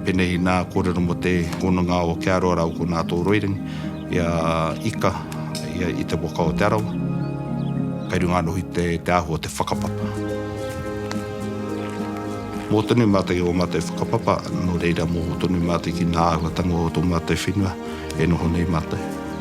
Penei inā kōrero mo te hononga o Kia Roa Rau ko Nātō Roirangi i a Ika i te waka o Te Arawa. Kai runga anō hoki te aho o te whakapapa. Mō tonu mātou i ō mātou whakapapa, nō reira mō tonu mātou ki ngā āhuatanga o tō mātou whenua e noho nei mātou.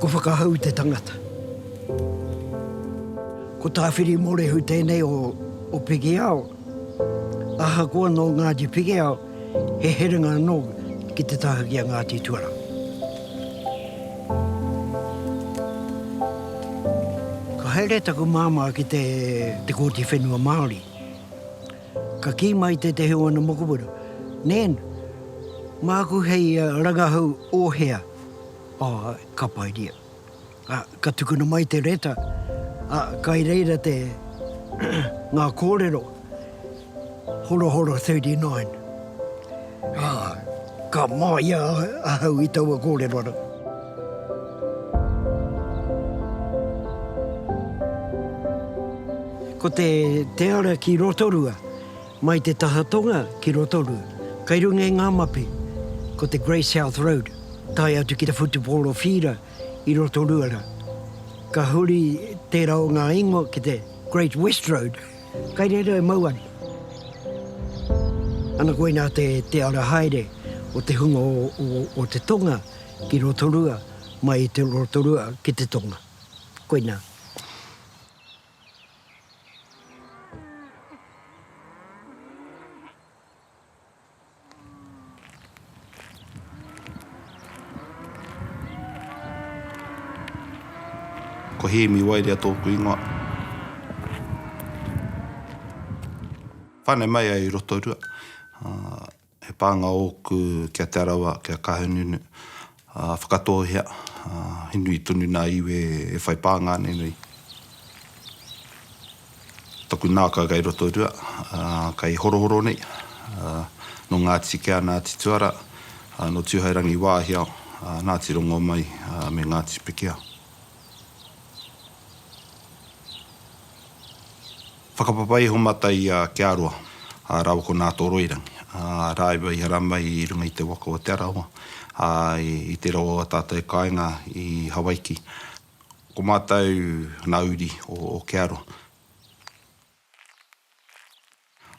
Ko Whakahau te tangata. Ko Tāwhiri Morehu tēnei o Pikiao. Ahakoa nō Ngāti Pikiao, he herenga anō ki te taha ki a Ngāti Tuarā. Ka haere taku māmā ki te Kōti Whenua Māori. Ka kī mai tētehi o ana mokopuna, Nan, māku hei rangahau o hea? Āe, ka paeria. Ā, ka tukuna mai te reta, ā, kai reira te, ngā kōrero, Horohoro 39. Ā, ka māia ahau i taua kōrero rā. Ko te ara ki Rotorua. Mai te taha tonga ki Rotorua, kai runga i ngā mapi, ko te Grey South Road, tae atu ki te whutupōro whīra i Rotorua rā. Ka huri tērā o ngā ingoa ki te Great West Road, kai reira e mau ana. Ana koinā te te ara haere o te hunga o te tonga ki Rotorua, mai i te Rotorua ki te tonga. Koinā. Ko Hēmi Wairea tōku ingoa. Whānau mai ai i Rotorua. He pānga ōku ki a Te Arawa, ki a Kahungunu, ā, whakatōhea, ā, he nui tonu nā iwi e whai pānga nei nei. Taku nākau kei Rotorua, ā, kei Horohoro nei, ā, nō Ngāti Kea, Ngāti Tuara, ā, nō Tūhairangi Wāhiao, ā, Ngāti Rongomai, ā, me Ngāti Pikia. Whakapapa iho mata i a Kia Roa, a raua ko Nātoroirangi, a rāua i haramai i runga i te waka o Te Arawa, a i te rawa o a tātou e kainga i Hawaiki. Ko mātou na uri o Kia Roa.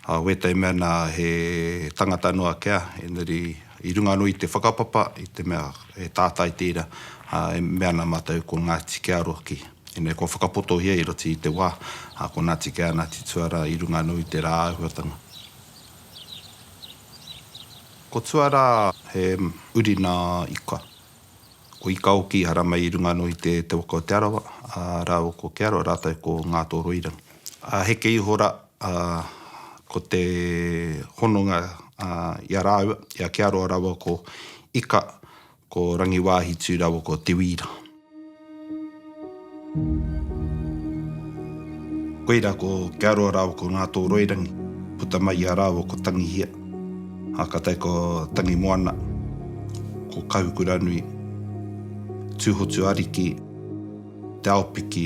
Ā wētai mea nā, he tangata noa kea, engari i runga anō i te whakapapa, i te mea he tātai tērā, ā, e mea ana mātou ko Ngāti Kearoa ki. Ine kua whakapotohia i roto i te wā, ā, ko Nāti Kea, Nāti Tuara i runga anō i tērā āhuatanga. Ko Tuara he uri nā Ika. Ko Ika hoki i haramai i runga anō i te waka o Te Arawa, ā, rāua ko Kearoa rātou ko Ngātoroirangi. Ā, heke iho rā, ā, ko te hononga i a rāua, i a Kearoa rāua ko Ika, ko Rangiwāhitū rāua ko Te Wīra. Koirā ko Kearoa rāua ko Ngātōroirangi, puta mai i a rāua ko Tangihia, ā, ka tae ko Tangimoana, ko Kahukuranui, Tūhotuariki, Te Aopiki,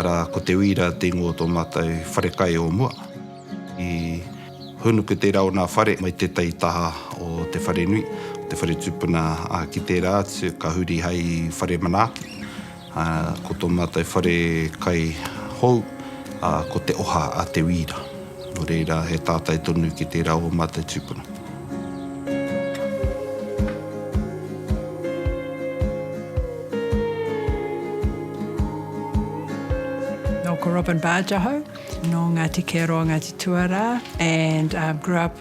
Arā, ko Te Uira te ingoa o tō mātou whare kai o mua. I hōnuku tērā o nā whare mai tētahi taha o te wharenui, te whare tūpuna, ā, ki tērā atu ka huri hai whare manaaki. Ko tō mātou whare kai hou, ko Te Oha a Te Wīra. Nō reira, he tātai tonu ki tērā o ō mātou tūpuna. Nō ko Robyn Barge ahau, nō Ngāti Kearoa, Ngāti Tuarā and grew up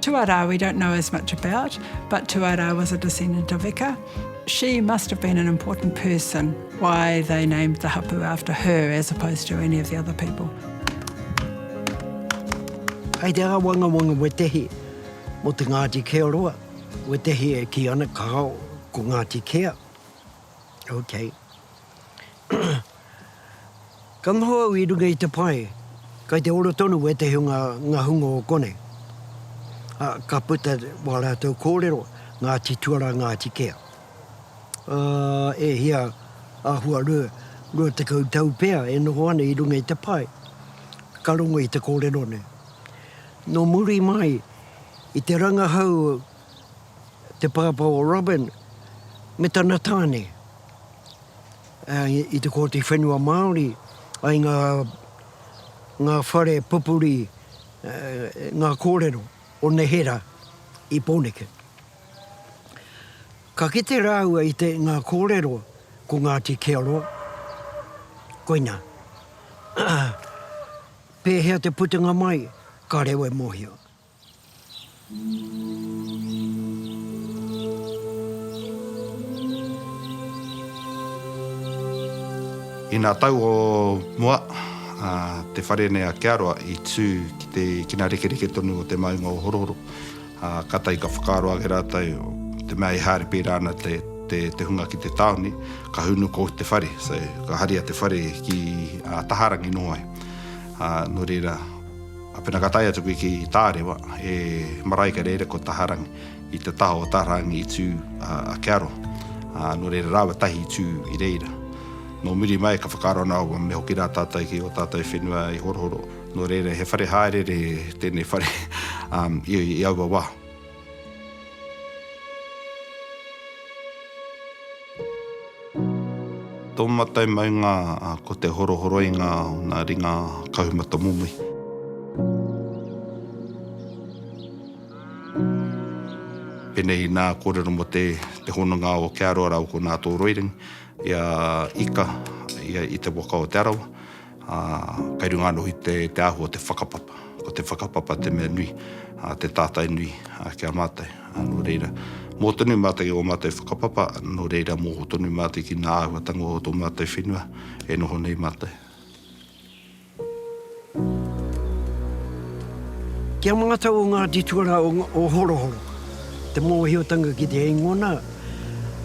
Tuarā we don't know as much about, but Tuarā was a descendant of Ika. She must have been an important person why they named the hapu after her as opposed to any of the other people. Kei te āwangawanga wetehi mō te Ngāti Keoroa, wetehi e kī ana kāo ko Ngāti Kea, ok. Ka noho au i runga i te pae, kai te ora tonu wētehi o ngā, ngā hunga o konei. Ā, ka puta wā rātou kōrero, Ngāti Tuara, Ngāti Kea. Ā, e hia, āhua rua, rua tekau tau pea e noho ana i runga i te pae, ka rongo i te kōrero nei. Nō muri mai i te rangahau te pāpā o Robyn me tana tāne. i te Kōti Whenua Māori, ai ngā, ngā whare pupuri, ngā kōrero o neherā i Pōneke. Ka kite rāua i te, ngā kōrero ko Ngāti Kearoa, koinā, pēhea te putunga mai, ka reo e mōhio. Inā tau o mua, te whare nei a Kearoa i tū ki te kinarekereke tonu o te maunga o Horohoro. Kātahi ka whakaaro ake rātou, te mea e haere pērā ana te hunga ki te tāone, ka hunu ko te whare, so ka haria te whare ki Taharangi noho ai. Nō reira. Pena ka tae atu koe ki Tārewa, e marae ka rere ko Taharangi, i te taha o Taharangi i tū a Kearo, ā, nō reira rāua tahi i tū i reira. Nō muri mai ka whakaaro ana au me hoki rā tātou ki ō tātou whenua i Horohoro, nō reira he whare hāereere tēnei whare i aua wā. Tō mātou maunga ko te horohoroinga o ngā ringa kahumata momohi. Pēnei i nā kōrero mō te hononga o Ke Aroaro ko nā tō Roirangi i a Ika i te waka o Te Arawa. Ā, kei runga anō i te, te āhua o te whakapapa. Ko te whakapapa te mea nui, ā, te tātai nui, ā, ki a mātou. Ā, nō reira, mō tonu mātou i ō mātou whakapapa, nō reira, mō tonu mātou ki ngā āhuatanga o tō mātou whenua e noho nei mātou. Kia mātau o Ngāti Tuarā o, o Horohoro, te mōhiotanga ki te eingona,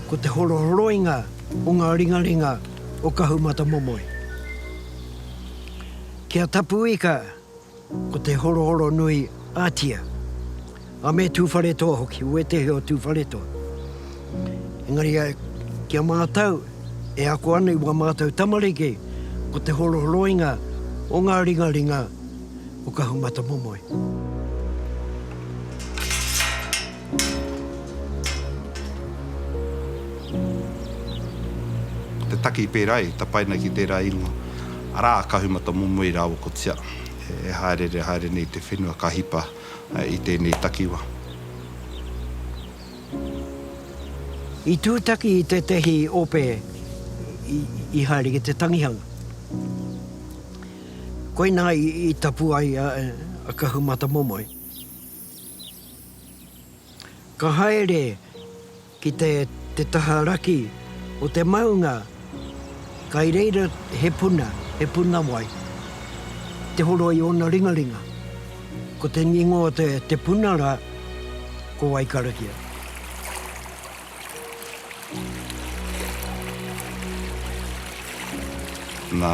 ko te horohoroinga o ngā ringaringa, o Kahumatamomoe. Ki a Tapuika ko te Horohoronui Atia, a me Tuwharetoa hoki, wētehi o Tuwharetoa. Engari ki a mātou, e ako ana i wā mātou tamariki, ko te horohoroinga o ngā ringaringa o Kahumatamomoe. Te taki i pērā i tapaina ki tērā ingoa, arā, ka humata momoe rāua ko tia, e hāereere haere nei te whenua ka hipa i tēnei takiwa. I tūtaki i tētehi ope i haere ki te tangihanga. Koinā i tapu ai a Kahumatamomoe. Ka haere ki te te taha raki o te maunga kai reira he puna, he puna wai. Te horo i ona ringaringa. Ko te ngingo o te te puna ra, ko wai karakia. Nā,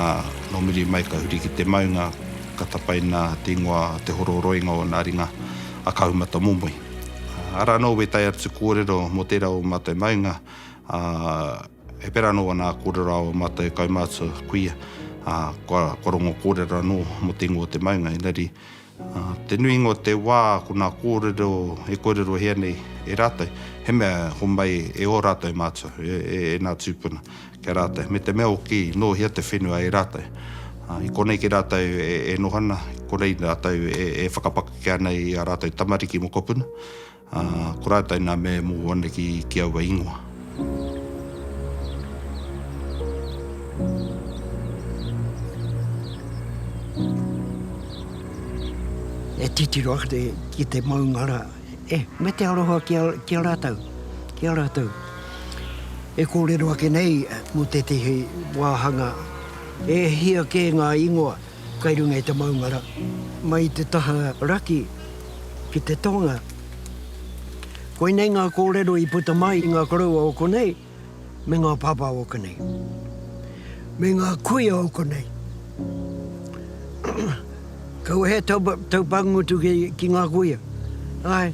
nō muri mai ka huri ki te maunga, ka tapaina te ingoa Te Hororoinga o nā ringa a Kahumatamomoe. Arā anō wē tae atu kōrero mō tērā o ō mātou maunga, ā, he pērā anō ana kōrero a ō mātou kaumātua kuia, ā, kua, kua rongo kōrero anō mō te ingoa o te maunga, engari, Te nuinga o te wā ko nā kōrero e kōrerohia nei e rātou, he mea homai e ō rātou mātua, e nā tūpuna ki a rātou, me te mea hoki nō hea te whenua e rātou. I konei ki rātou e noho ana, i konei rātou e whakapakeke ana i a rātou tamariki mokopuna. Ā, ko rātou nā mea e mōhio ana ki, ki aua ingoa. E titiro ana te, ki te maunga rā, e, me te aroha ki a, ki a rātou, ki a rātou. E kōrero ake nei mō tētehi wāhanga, e hia kē ngā ingoa. Kai runga i te maungara, mai i te taha raki ki te tonga. Koinei ngā kōrero i puta mai i ngā koroua o konei me ngā pāpā o konei, me ngā kuia o konei. Kaua he taupāngutu ki ngā kuia, āe.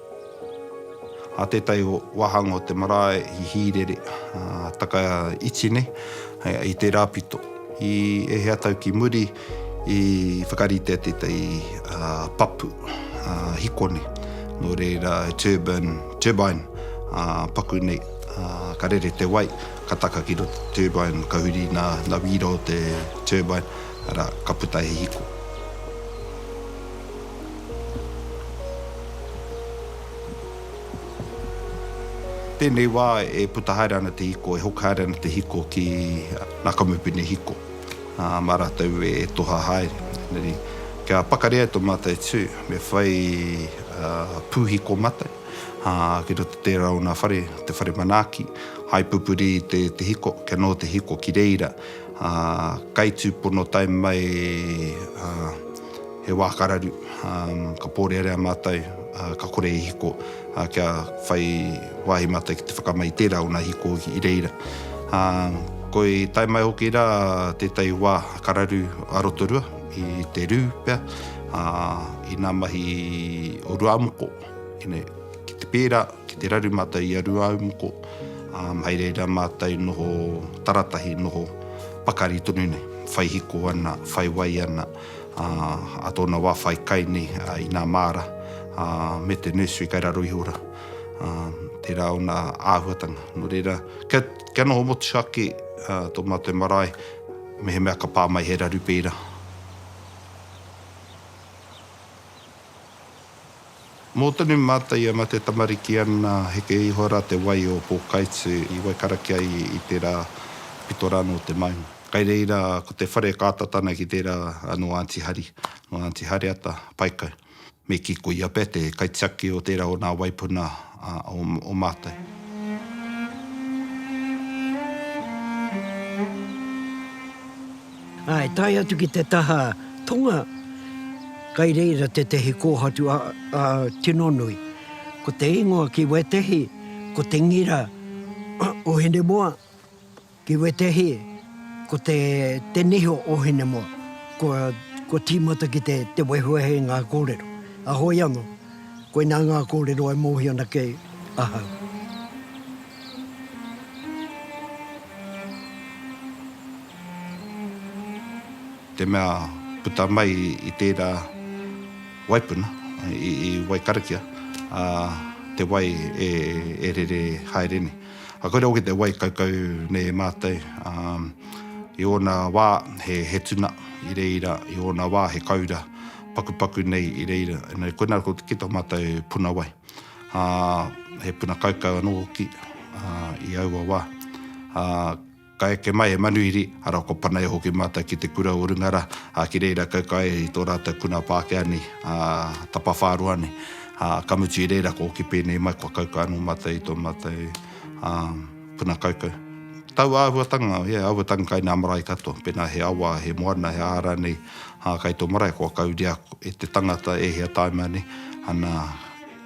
A tētahi wāhanga o te marae i Hīrere, taka iti nei, i tērā pito. I ēhea tau ki muri i whakaritea tētahi papu hikone, nō reira he turbine, turbine paku nei, ka rere te wai, ka taka ki roto te turbine, ka huri nā wīra o te turbine, arā, ka puta he hiko. Tēnei wā e puta haere ana te hiko, e hoki haere ana te hiko ki ngā kamupene hiko, ā, mā rātou e toha haere. Engari, kia pakari ai tō mātou tū, me whai pūhiko mātou, ā, ki roto tērā o ngā whare, te whare manaaki, hai pupuri i te hiko, kia noho te hiko ki reira, ā, kai tūpono tae mai, ā. He wā ka raru, ka pōrearea mātou, ka kore e hiko, kia whai wāhi mātou ki te whakamai i tērā o ngā hiko i reira. Koi tae mai hoki rā tētahi wā ka raru a Rotorua i te rū pea, i ngā mahi o Ruāmoko, ki te pērā, ki te raru mātou i a Ruāmoko, hai reira mātou noho taratahi, noho pakari tonu nei, whai hiko ana, whai wai ana. a tōna wā whai kai nei i nā māra me te nursery kai raro iho rā. Tērā ōna āhuatanga. Nō reira, kia noho motu ake tō mātou marae, mehemea ka pā mai he raru pērā. Mō tonu mātou i a Mate Tamariki ana, heke iho rā te wai o Pōkaitu i Waikarakia i tērā pito rā nō te maunga. Kai reira ko te whare ka ata tana ki tērā nō Aunty Hari, nō Aunty Hareata, Paikau. Me kī ko ia pea te kaitiaki o tērā o nā waipuna o mātou. Ā, e tae atu ki te taha tonga, kai reira tētehi kōhatu tino nui. Ko te ingoa ki wētehi, ko te ngira o Hinemoa. Ki wētehi, ko te, te niho o Hinemoa, kua, kua tīmata ki te, te wehuwehe i ngā kōrero. A hoi anō, koinā ngā kōrero e mōhio ana ki ahau. Te mea puta mai i tērā waipuna i, i Waikarakia, ā, te wai e, e rere haere nei. A koira hoki te wai kaukau nei e mātou, ā, i ōna wā he, he tuna i reira, i ōna wā he kaura pakupaku nei i reira. Engari koinā ko, ki tō mātou puna wai, ā, he puna kaukau anō hoki, ā, i aua wā. Ā. Ka eke mai e Manuhiri, arā ko Panaia hoki mātou ki te kura o Rungara, ā, ki reira kauka ai i tō rātou puna Pākehā nei, ā, tapawhāroa nei. Ā, ka mutu i reira ka oki pēnei mai kua kauka anō mātou i tō mātou, ā, puna kaukau. Taua āhuatanga, e, aua tangi kai nā marae katoa, pēnā he awa, he moana, he aha rānei, ā, kai tō marae kua kauria e te tangata e hia tāima nei, ana,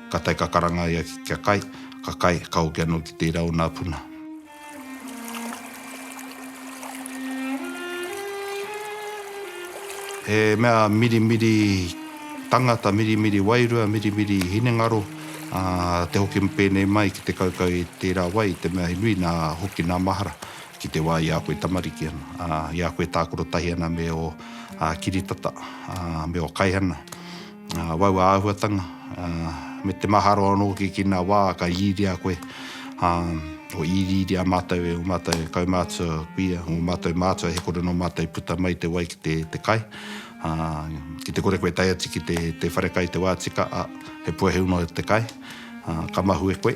ka tae ka karanga ia kia kai, ka kai, ka hoki anō ki tērā o nā puna. He mea mirimiri tangata, mirimiri wairua, mirimiri hinengaro, ā, te hoki pēnei mai ki te kaukau i tērā wai, te mea he nui nā hoki nā mahara ki te wā i a koe tamariki ana, ā, i a koe tākaro tahi ana me ō kiritata, ā, me ō kaihana. Wau āhuatanga, me te maharo anō hoki ki nā wā ka rīria koe, o i rīria mātou e o mātou kaumātua kuia, o mātou mātua he kore nō mātou i puta mai te wai ki te kai, ki te kore koe e tae atu ki te wharekai te wā tika, a, he puehu noa te kai, ka mahue koe.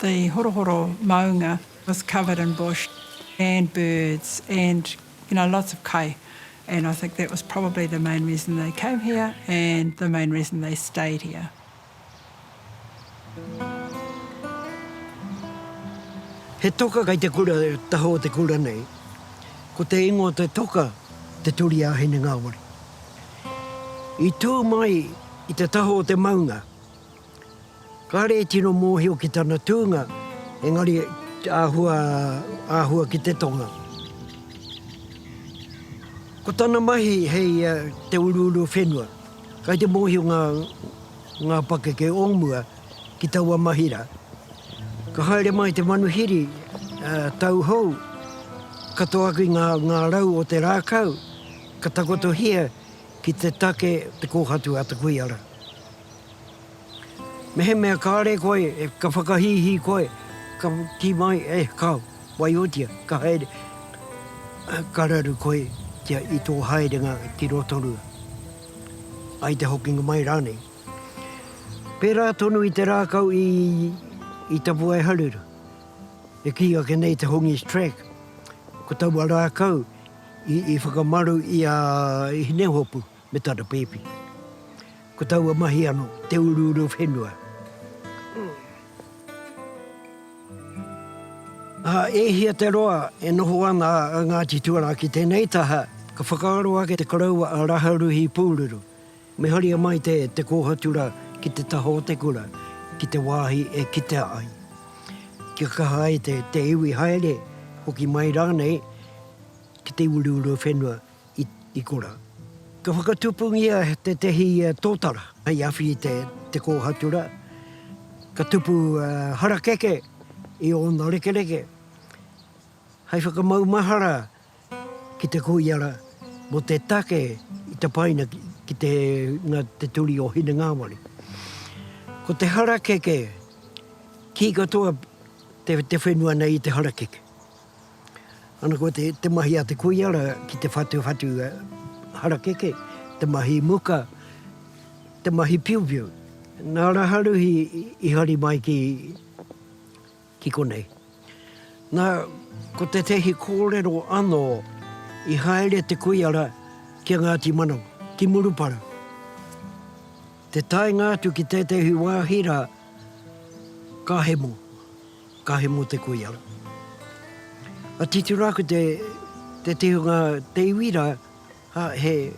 The horohoro maunga was covered in bush and birds and you know lots of kai and I think that was probably the main reason they came here and the main reason they stayed here. He toka kei te kura taha o te kura nei. Ko te ingoa o te toka Te Turiāhine Ngāwari. I tū mai i te taha o te maunga. Kāre e tino mōhio ki tana tūnga, engari āhua, āhua ki te tonga. Ko tana mahi hei te uruuru whenua. Kai te mōhio ngā, ngā pakeke o mua ki taua mahi rā. Ka haere mai te manuhiri, tauhou, ka toaki ngā, ngā rau o te rākau, ka takotohia ki te take, te kōhatu a te kuia rā. Mehemea kāre koe, ka whakahīhī koe, ka kī mai, e, ka waiotia, ka haere, ka raru koe kia i tō haerenga ki Rotorua, ai te hokinga mai rānei. Pērā tonu i te rākau i, i Tapuaeharuru, e kī ake nei te Hongi's Track, ko taua rākau i, i whakamaru i a Hinehopu. me tana pēpi. Ko taua mahi ano te uruuru whenua. A e hia te roa e noho ana a Ngati Tuarā ki tenei taha, ka whakaaro ake te koroua a Raharuhi Pūruru, me haria mai te te kōhatu ra ki te taha o te kura, ki te wāhi e kitea ai. Kia kaha ai te te iwi haere, hoki mai rānei ki te uruuru whenua. i kora. Ka whakatupungia tētehi tōtara hei awhi i te kōhatura, ka tupu harakeke i ōna rekereke hei whakamaumahara ki te koiara mō te take i tapaina ki te hunga te turi o Hinengāwari. Ko te harakeke, kī katoa te whenua nei i te harakeke. Ana koa te mahi a te kuia ra ki te whatuwhatu harakeke, te mahi muka, te mahi piupiu. Na Raharuhi i hari mai ki ki konei. Na ko tetehi korero ano i haere te kuia ra ki a Ngati Manawa, ki Murupara. Te taenga atu ki tetehi wahi ra ka hemo. Ka he mo te koiara. A titura aku te te tihunga te iwi ra ha he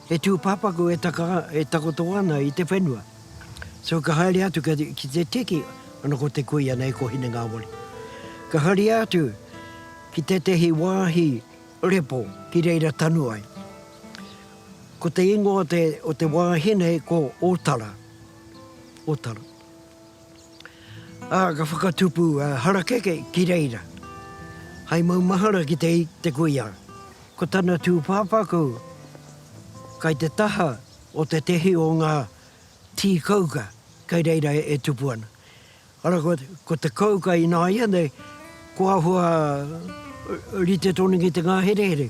he tu papaku e taka e takoto ana i te whenua. So ka haere atu ka ki te tiki ano ko te kuia nei ko hine ngawari. Ka haria atu ki tetehi wahi repo ki reira tanu ai. Ko te ingoa o te o te wahi nei ko Otara. Otara. Ā, ka whakatupu a Harakeke ki reira, hai maumahara ki te i te kuia. Ko tana tūpāpaku kai te taha o tētehi o ngā tī kauka kai reira e tupu ana. Arā, ko te kauka ināianei ko āhua rite tonu ki te ngāherehere.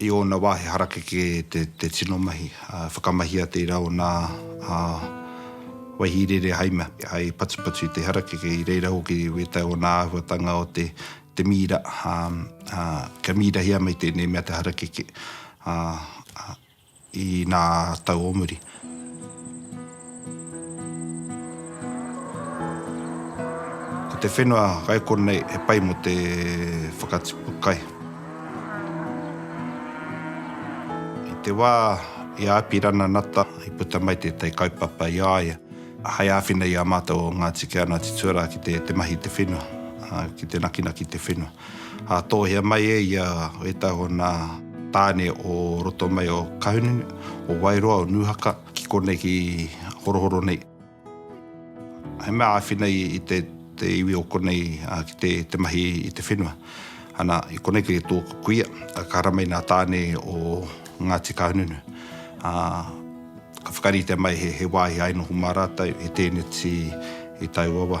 I ōna wāhi harakeke te tino mahi, whakamahia tērā o nā waihi rere hai mea, hai patupatu i te harakeke, i reira hoki i wētai o nā āhuatanga o te mīra, kia mīrahia mai tēnei mea te harakeke. i nā tau o muri. Ko te whenua kaikō nei he pai mō te whakatipu kai. I te wā i a Apirana Nata i puta mai tētahi kaupapa i a ia hai āwhina i a mātou o Ngāti Keanati tuarā ki te mahi i te whenua, ki te nakinaki i te whenua. Hātohia mai e ia wētahi o nā tāne o roto mai o Kahungunu, o Wairoa, o Nūhaka, ki konei ki Horohoro nei. He mea āwhina i te iwi o konei ki te mahi i te whenua. Ana, i konei kei tōku kuia, ka haramai nā tāne o Ngāti Kahungunu. Ka whakaritea mai he wāhi hai noho mā rātou, he tēneti i taua wā.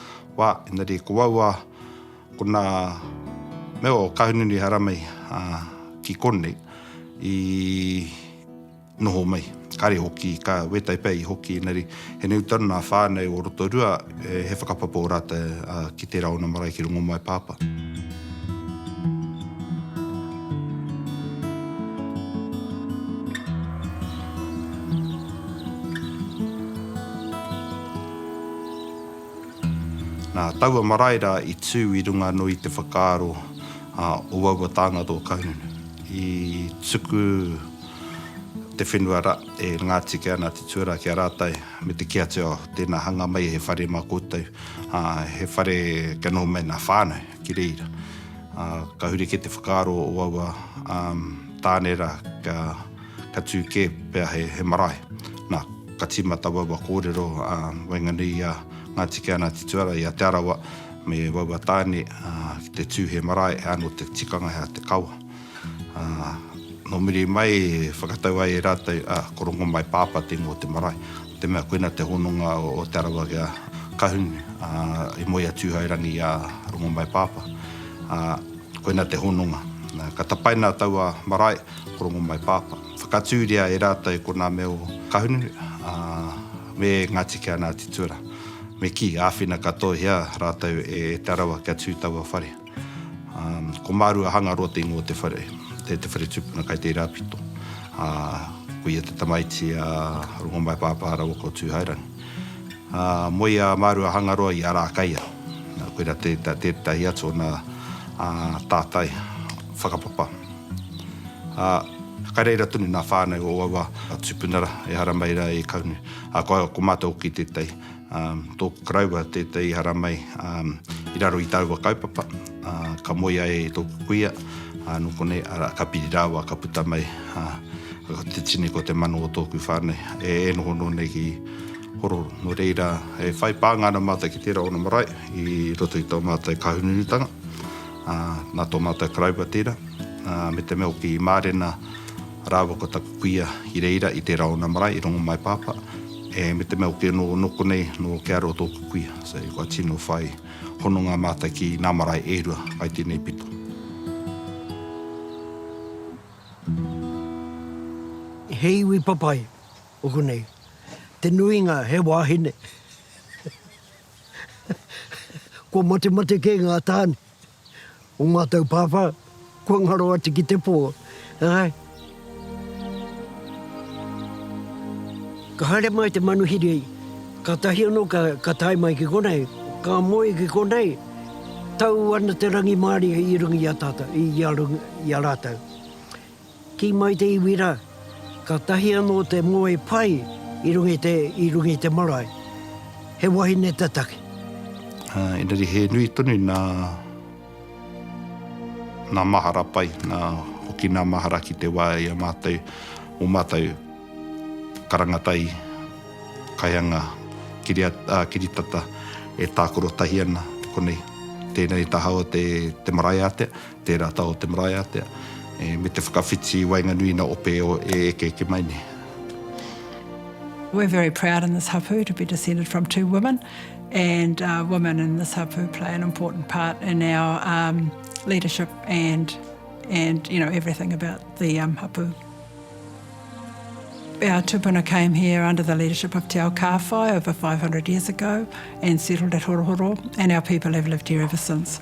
Wā, engari ko wāua ko nā mea o Kahungunu Haramai ki konei i noho mai. Kāre hoki ka wētai pea i hoki, engari he nui tonu nā whānau o Rotorua he whakapapa o rātou ki tērā ona marae ki Rongomaipāpā. Nā taua marae rā i tū i runga anō i te whakaaro a Owawa Tāngata o Kahungunu. I tuku te whenua rā e Ngāti Kea, Ngāti Tuarā ki a rātou me te kī atu, oh, tēnā hanga mai he whare mā koutou, ā, he whare kia noho mai ngā whānau ki reira. Ā, ka huri kē te whakaaro o Owawa, ā, tāne rā, kia. Ka tū kē pea he marae. Nā, ka tīma tawaua kōrero a waenganui i a Ngāti Keanatituara, i a Te Arawa me waua tāne ki te tū he marae, he anō te tikanga, he aha te kawa. Nō muri mai e whakatau ai e rātou, ko Rongomaipaapa te ingoa o te marae, nō te mea koina te hononga o Te Arawa ki a Kahune, i moe a Tūhourangi i a Rongomaipaapa. Koina te hononga. Ka tapaina taua marae Ko Rongomaipaapa. Whakatūria e rātou i konā me o Kahunu, ā, me Ngāti Keanaati tuara. Me kī, āwhina katoahia rātou e Te Arawa kia tū taua whare. Ā, ko Maru a Hangaroa te ingoa o te whare, te whare tūpuna kai te Irāpito. Ā, ko ia te tamaiti a Rongomaipaapa rāua ko Tūhairangi. Ā, moe a Maru a Hangaroa i Arākaia. Nā, koirā tētahi atu ōna, ā, tātai whakapapa. Ā, ka reira tonu ngā whānau o aua tūpunara, ehara mai rā e Kaune. Ā, ko, ko mātou hoki tētahi, ā, tōku karaua tētahi ehara mai, ā, i raro i tāua kaupapa, ā, ka moe ai e tōku kuia, ā, nō konei, arā, ka piri rāua, ka puta mai, ā, ko te tini, ko te mano o tōku whānau, e, e noho noa nei ki Hororo. Nō reira, e whai pānga ana mātou ki tērā o ngā marae i roto i tō mātou kāhununutanga. Nā tō mātou Karaua tērā, me te mea hoki i mārena rāua ko taku kuia i reira i tērā ōna marae i Rongomaipaapa, me te mea hoki anō nō konei, nō Kearoa tōku kuia. So, kua tino whai hononga mātou ki nā marae e rua kai tēnei pito. He iwi papai ōku nei, te nuinga he wāhine. Kua matemate kē ngā tāne o mātou pāpā, kua ngaro atu ki te pō, āe. Ka haere mai te manuhiri, kātahi anō ka tae mai ki konei, ka moe ki konei, tau ana te rangimārie i runga i a tātou, i a rātou. Kī mai te iwi rā, Kātahi anō te ngoi pai i runga i te, i runga i te marae. He wahine te take. Ā, engari he nui tonu nā, nā mahara pai, nā, hoki nā mahara ki te wā i a mātou, ō mātou karanga tai, kaianga kiria, ā, kiritata e tākoro tahi ana, konei. Tēnei taha o te, te marae ātea. Tērā taha o te marae ātea, me te whakawhiti i waenganui i ngā ope e eke eke mai nei. We're very proud in this hapu to be descended from two women and women in this hapu play an important part in our um leadership and and you know everything about the um hapu. Our tupuna came here under the leadership of Te Ao Kāwhai over 500 years ago and settled at Horohoro and our people have lived here ever since.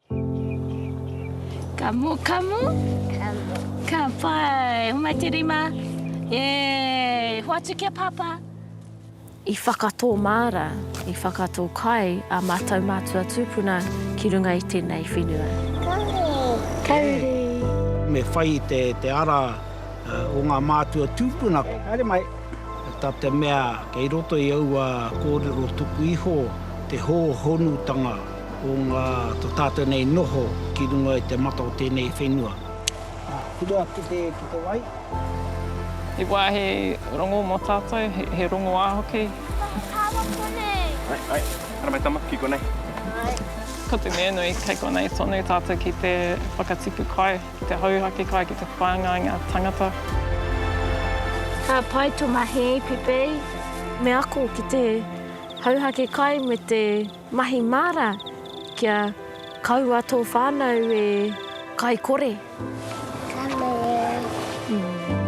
Ka mo, ka mo. Ka mo. Ka pai. Homai te rima. E, hoatu ki a Papa. I whakatō māra, i whakatō kai a mātou mātua tūpuna ki runga i tēnei whenua. Kauri! Me whai te ara o ngā mātua tūpuna. Haere mai! Ta te mea kei roto i aua kōrero tuku iho te hōhonutanga. o ngā to tātou nei noho ki runga i te mata o tēnei whenua. Huri atu ki te wai. He wāhi rongo mō tātou, he rongoā hoki. He whakapapawa konei. Hai, hai, hara mai tama, ki konei. Hai. Ko te mea nui, kei konei tonu tātou ki te whakatipu kai, ki te hauhake kai, ki te whāngai i ngā tangata. Ka pai to mahi, Pipei. Me ako ki te hauhake kai me te. Mahi māra kia kaua tō whānau e kai kore. Ka mutu.